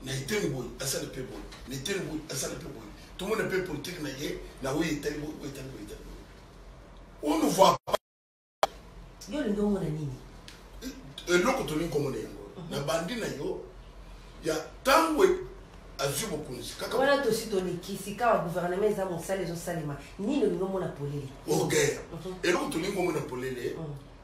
na eteni boye asali mpe boye na eteni boye asali mpe boye tomona mpe politike na ye na oyo etali boye oyo etali boye etali boye on ne voit pas yo olingi omona nini eloko tolingi komona yango mhm. na bandi na yo ya ntango e- azwi bokonzi kaka wana tosi tolikisi kaka guvernema eza mosala ezosalema nini olingi omona polele oge mhm. eloko tolingi omona polele mhm.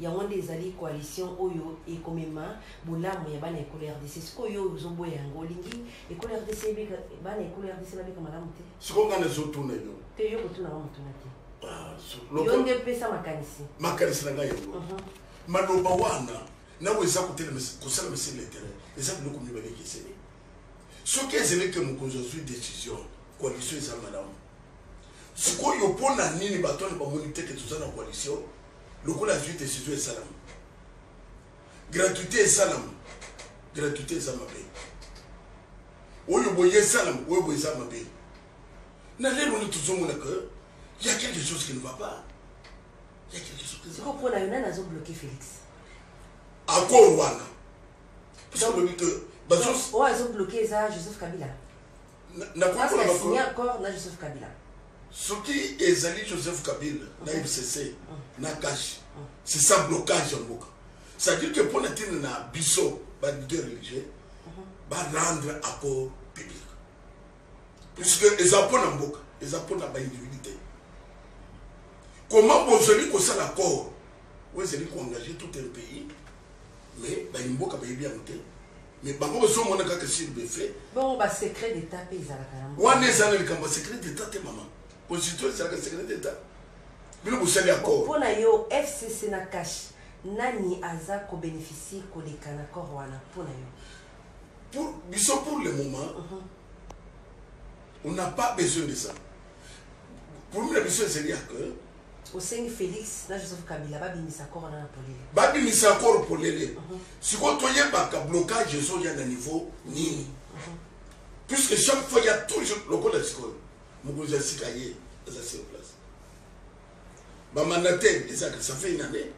Yango nde ezali coalition oyo ekomema bolamu ya bana ekolo RDC. Sikoyo yo ozoboya yango, olingi ekolo RDC ebika, bana ekolo RDC babika malamu te? Sikoyo ngai nazotuna yo. Te yo kotuna ngai motuna te. Ah, yo nde pesa makanisi. Makanisi na ngai yango. Mhm. Maloba wana nawe eza kotelema kosala mesi na interet eza biloko mibale ekeseni soki ezali ke mokonzi azwi decision coalition eza malamu Sikoyo mpo na nini bato wana bamoni te ke toza na coalition lokola azwi decision esalama gratuité esalama gratuité eza mabe oyo boye esalama oyo boye eza mabe na lelo nde tozomona ke ya quelque chose qui ne va pas ya quelque chose qui siko mpo na yo nani azobloke félix accord wana parce que olobi ke oyo azobloke eza joseph kabila na koyekola Parce que signer makolo accord na Joseph Kabila. soki ezali joseph kabila na mcc na kashi c'est ça blocage ya mboka c'est-à-dire que mpo na ntina na biso ba leader religieux ba rendre accord public puisque eza mpo na mboka eza mpo na baindividu te comment bozali kosala accord oyo ezali koengage tout un pays mais bayi mboka bayebi yango te Mais bango bazo mona kaka sur des faits. Bongo ba secret d'etat pe ezalaka na mboka. Wana ezana likambo secret d'etat te maman. Constitution ezalaka secret d'etat. Bino bosali accord. Pona yo FCC na cash nani aza ko bénéficier koleka na accord wana pona yo. Pour biso pour le moment. Uh mhm. -huh. On n'a pas besoin de ça. Pour nous la mission c'est dire que Osengi Felix na Joseph Kabila babimisa accord wana na polele. Babimisa accord polele. Uh -huh. Sikoyo toyebaka blocage ezoya na niveau nini. Uh -huh. Puisque chaque fois il y a toujours lokola sikoyo mokonzi ya sika ye aza sur place. Bamandataire ezaka ça fait une année.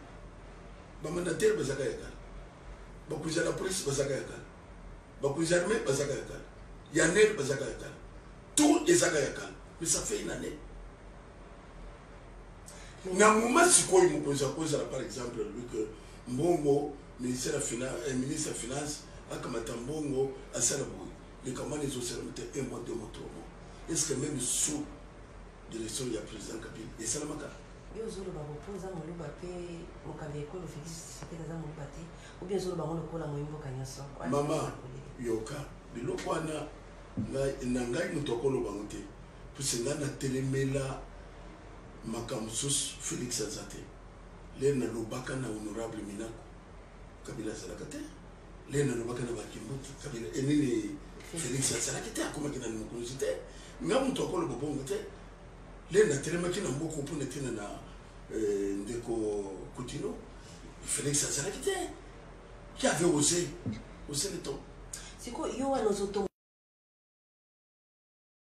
Bamandataire bazaka ya kala. Bakonzi ya la police bazaka ya kala. Bakonzi ya armée bazaka ya kala. Ya ner bazaka ya kala. Tout ezaka ya kala. Mais ça fait une année. na moment sikoyo mokonzi akozala par exemple alobi ke mbongo ministre ya finance, eh, ministre ya finance akamata mbongo asala boye likambo wana ezosalama te un mois deux mois trois mois est ce que même sous direction ya président kabila esalamaka yo ozoloba bopo oza moluba mpe mokambi ya ekolo félix tshisekedi aza moluba te obi ozoloba yango lokola moyi mboka nyonso mama yoka biloko wana na ngai moto akoloba yango te Puisque nga na telemela makambo mosusu Felix aza te. Lelo nalobaka na honorable Minaku Kabila azalaka te. Lelo nalobaka na Bakimbutu Kabila enini eh, Felix azalaki te akomaki na mokonzi te. Nga moto akoloba bongo te. Lelo natelemaki na mboko mpo na ntina na eh, ndeko Kutino Felix azalaki te. Qui avait osé osé le temps. Siko yo wana ozotonga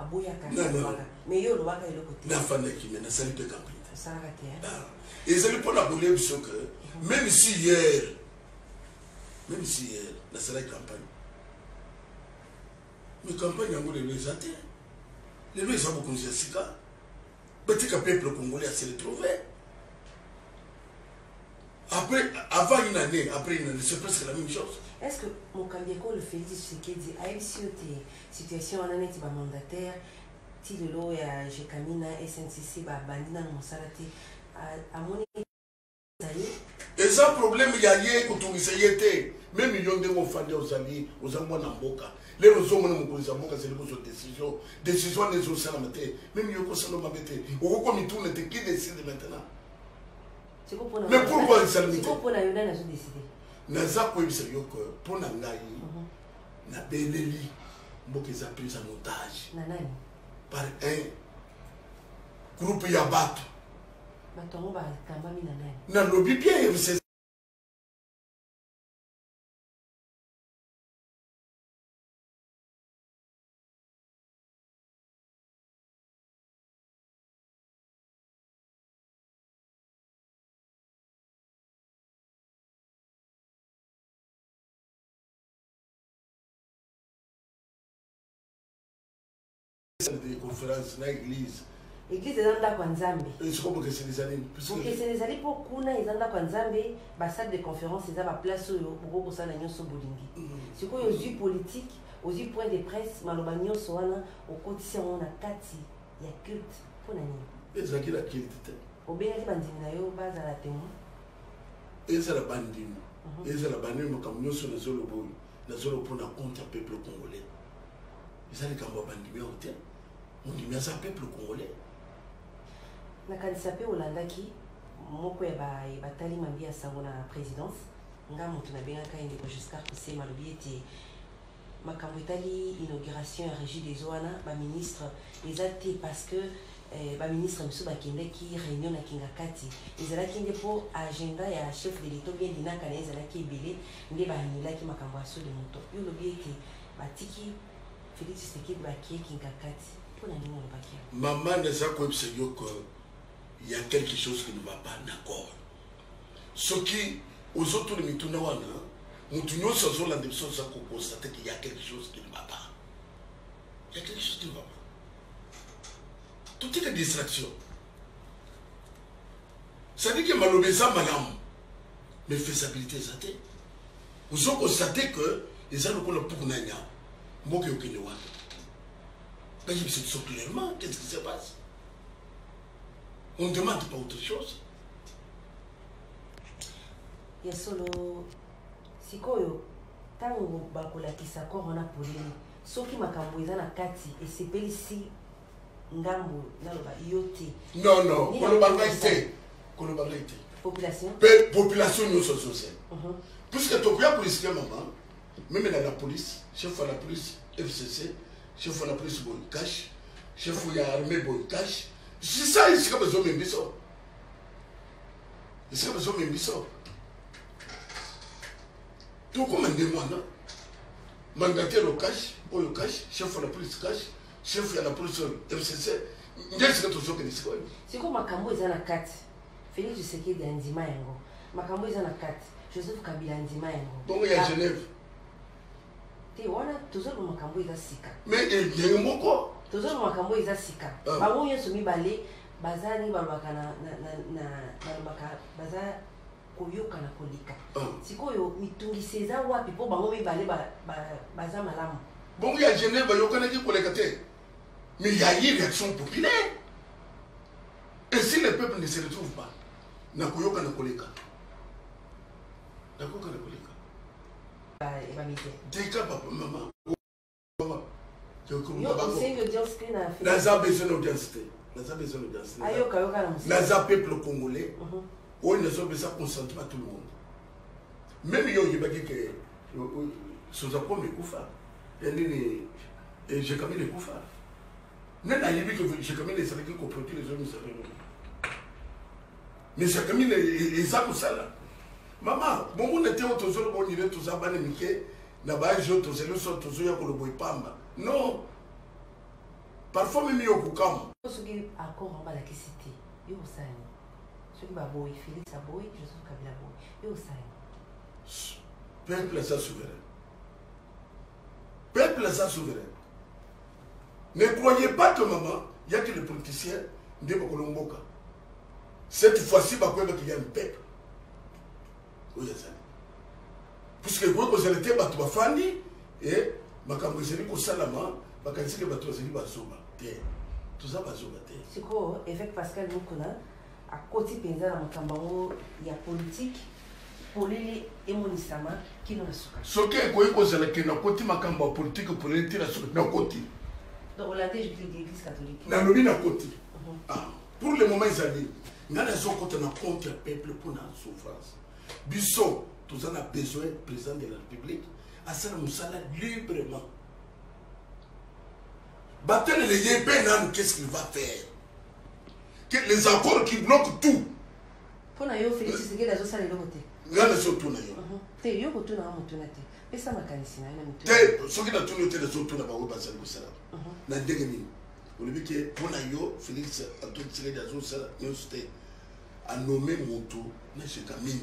aboyaka Nani alobaka aloba? mais yo olobaka eloko te nafandaki me nasali mpe camping te osalaka te hein? Ah, ezali mpo na kolia biso ke meme si hier meme si hier nasalaki campagne me campagne yango lelo eza te lelo eza bokonzi ya sika batika peuple congolais ya se retrouve Après, avant une année, après une année, c'est presque la même chose. Est-ce que mon candidat, le Félix Tshisekedi, a eu sur tes situations en année, tu vas mandataire, ti lelo ya jekamina sncc babandi nano mosala te amoni ezali eza problème ya ye kotungisa ye te me milio ndenge ofandi ozali oza mwana mboka lelo ozomona mokonzi ya mboka azali kozwa décision décision wana ezosalama te me milio kosala mabe te okoki komituna te qui décide maintenant mais pourquoi insalubrité naza koyebisa yo ke mpo na ngai mhm. nabeleli mboka eza prise en otage par un groupe ya bato nalobi bien de conférence na église eglise eza ndako ya nzambe eh, siko bokeseni ezali bokeseni ezali mpo kuna eza ndako ya nzambe basale de conférence eza baplace oyo okoki kosala nyonso bolingi mm. sikoyo ozwi politike ozwi point de presse maloba nyonso wana okotisi yango na kati ya culte mpo na nini ezalaki na culte te obengaki bandimi na yo bazala temo ezala bandimi mhm. ezala bani makambo nyonso nazoloba oyo nazoloba mpo na compte ya peuple congolais eza likambo ya bandimi yango te mondimi aza peuple congolais nakanisa mpe olandaki moko ya batali mambi ya sango na présidence nga moto nabengaka ye ndeko juscar kosema alobi ete makambo etali inauguration ya regie des eaux wana ba ministre eza te parce que eh, ba ministre mosusu bakendaki réunion na kingakati ezalaki nde mpo agenda ya chef de l'etat bien linaka na ezalaki ebele nde baanulaki makambo ya sode moto yo olobi ete batiki félix tshisekedi bakie kingakati mpo na ndenge olobaki mama naza koyebisa yo que ya quelque chose qui ne va pas d'accord soki ozotuna mituna wana motu nyonso azolanda biso aza kokonstate ke ya quelque chose qui ne va pas ya quelque chose qui ne va pas totika distraction cestadire ke maloba eza malamu mais faisabilité eza te ozo konstate ke eza lokola puku na nyama mboka eyokende wana bayebisa biso clairement qu'est ce qui se passe on ne demande pas autre chose ya solo sikoyo ntango bakolakisa corps wana polele soki makambo eza na kati esepelisi ngambo naloba yo te non non koloba ngai te koloba ngai te population mpe population nyonso azozela mhm. puisque tokoya korisike mama meme na la police chef ya la police fcc chef wana plus boy cash chef ya armée boy cash sisa esika bazomema biso esika bazomema biso tokoma ndenge wana mandataire o cash oyo cash chef ya la police cash chef ya la police oyo mcc nde esika tozokende sikoyo sikoyo makambo eza na kati felix tshisekedi andima yango makambo eza na kati joseph kabila andima yango bongo ya genève te wana tozoloba makambo eza sika me ndenge eh, moko tozoloba makambo eza sika ah. bango nyonso mibale baza ndenge balobaka balobaka baza koyokana koleka ah. sikoyo mitungisi eza wapi mpo bango mibale baza malamu bongo ya genève bayokanaki koleka te mais ya ye réaction populaire et si le peuple ne se retrouve pas nakoyokana koleka nakoyokana koleka tika papa mama naza besoin na audience te naza besoin na audience te naza peuple congolais mhm. oyo nazopesa consentement tout le monde meme yo oyebaki ke soza pome ekufa ya nini jekamine ekufa nani ayebi ke jekamine ezalaki koproduire ezomisaka mais jacamine eza kosala mama bomona te oyo tozoloba onire toza bana mike na baage oyo tozali oso tozoya koloba epamba non parfois meme yo kokamwa soki accord yango balakisi te yo osani soki baboyi félix aboyi joseph kabila aboyi yo osani peuple aza souverain peuple aza souverain ne croyez pas que maman yaki le politicien nde bakolomboka cette fois-ci bakoyeba qu'il y a le peuple oyo ezali puisque ekoki kozala te bato bafandi e makambo ezali kosalama bakanisi ke bato bazali bazoba te toza bazoba te sikoyo évêque pascal mokuna akoti mpenza na makambo yango ya politike polele emonisama kino na suka soki ekoki kozala ke nakoti makambo ya politike polele te na suka nakoti nalobi nakoti mhm. ah. pour le moment ezali ngai nazokota na compte ya peuple mpo na souffrance biso toza na besoin président de la république asala mosala librement batelele ye mpe nanu qu'est ce qu'il va faire que les accords qui bloquent tout mpo na yo félix tshisekedi azosala eloko te nga nazotuna yo uh-huh. te yo kotuna nga motuna te pesa makanisi na yo na te soki natuni yo te nazotuna bango bazali kosala uh-huh. na ndenge nini olobi ke mpo na yo félix antoine tshisekedi azosala nyonso te anome moto na jetamine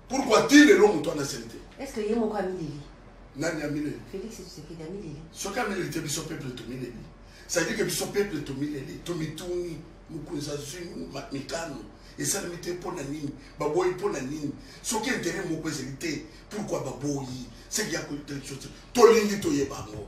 pourkoi ti lelo moto wana asali te estce ye moko amileli nani amileli félix tshisekedi amileli soki amileli te biso peuple tomileli cestadire ke biso peuple tomileli tomituni mokonzi azwi mikano esalemi te mpo na nini baboyi mpo na nini soki intere moko ezali te pourkoi baboyi seki ya kotelekso te tolingi toyeba yango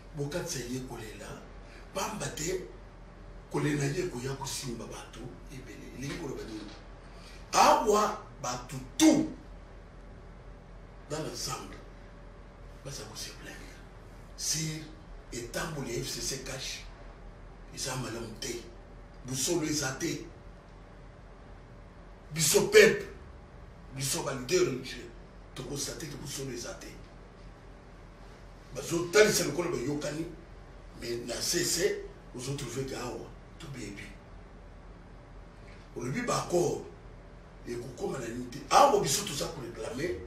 Bokatisa ye kolela, pamba te kolela ye ekoya kosimba bato ebele. Elingi koloba nini? Awa bato tu dans l'ensemble baza kose plaindre sur etamboli ya fcc cash eza malamu te, bosolo eza te. Biso peuple, biso ba leader religieux, tokostate ke bosolo eza te. bazotalisa lokola bayokani mais na sese ozotrouve ke awa tobebi olobi baaccord ekokoma na nini te awa biso toza koreklame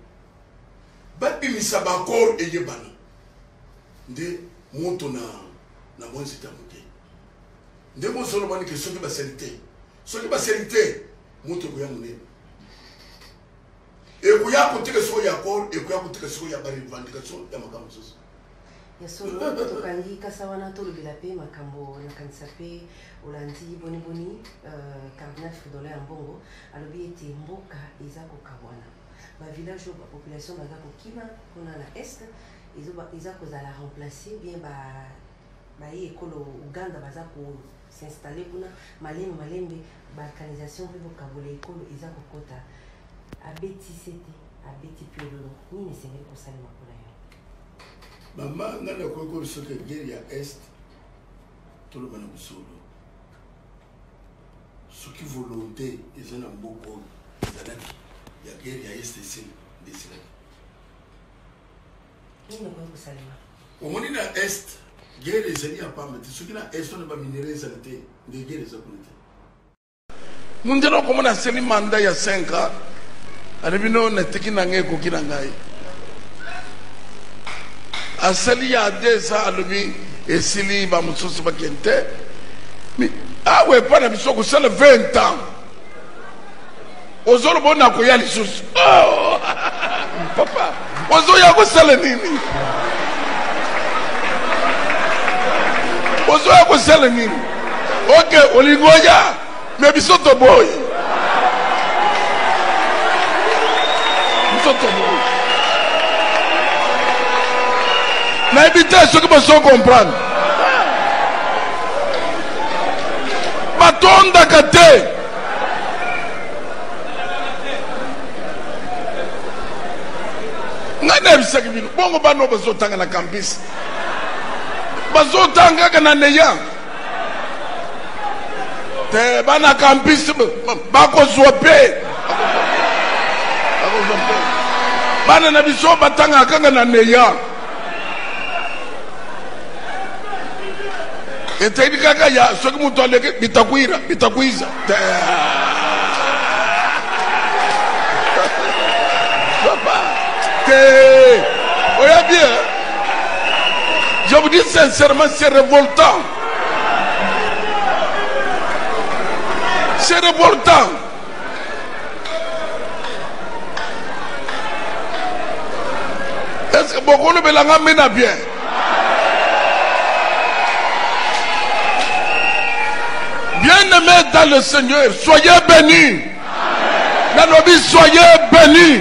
babimisa baaccord eyebana nde moto na na mwa nzita moke nde bozolobani ke soki basali te soki basali te moto ekoya monene ekoya kotika siko ya kor ekoya kotika siko ya barevendication ya makambo mosusu ya solo tokangi kasa wana tolobela mpe makambo nakanisa mpe olandi boniboni euh, cardinal fridola ya mbongo alobi ete mboka eza kokabwana bavillage oyo bapopulation baza kokima kuna na est eza kozala remplace bien baye ekolo uganda baza ko s'installer kuna malembe malembe ba canalisation mpe bokabola ekolo eza kokota abeti sete abeti piololo nini esengeli kosalema mpona yo mama ngai nakoki koyebisa ke guerre ya est toloba na mosolo soki volonté eza na mboka oyo ezalaki ya guerre ya est esili nde esilaki nini ekoki kosalema omoni na est guerre ezali ya pamba te soki na est wana baminere ezala te nde guerre eza kuna te mundele okomona aseli manda ya 5 ans ale bino natiki na ngai ekoki na ngai asali ya deux ans alobi esili bamosusu bakende te awa epai na biso kosala 20 ans ozoloba ona koya lisusu oh! papa ozoya kosala nini ozoya kosala nini oke olingi oya me biso toboyi biso toboyi nayebi te soki bozo comprendre batondaka te ngai nayebisaki bino bongo bana oyo bazotanga na campus bazotanga kaka na neya te bana campus bakozwa mpe bana na biso batangaka kaka na neya eteni kaka ya soki moto aleki bitakwira bitakwiza papa te oya bien eh? je vous dis sincèrement c'est révoltant c'est révoltant est ce que bokolobela nga mbe na bien bien aimé dans le seigneur soyez bénis nalobi soyez bénis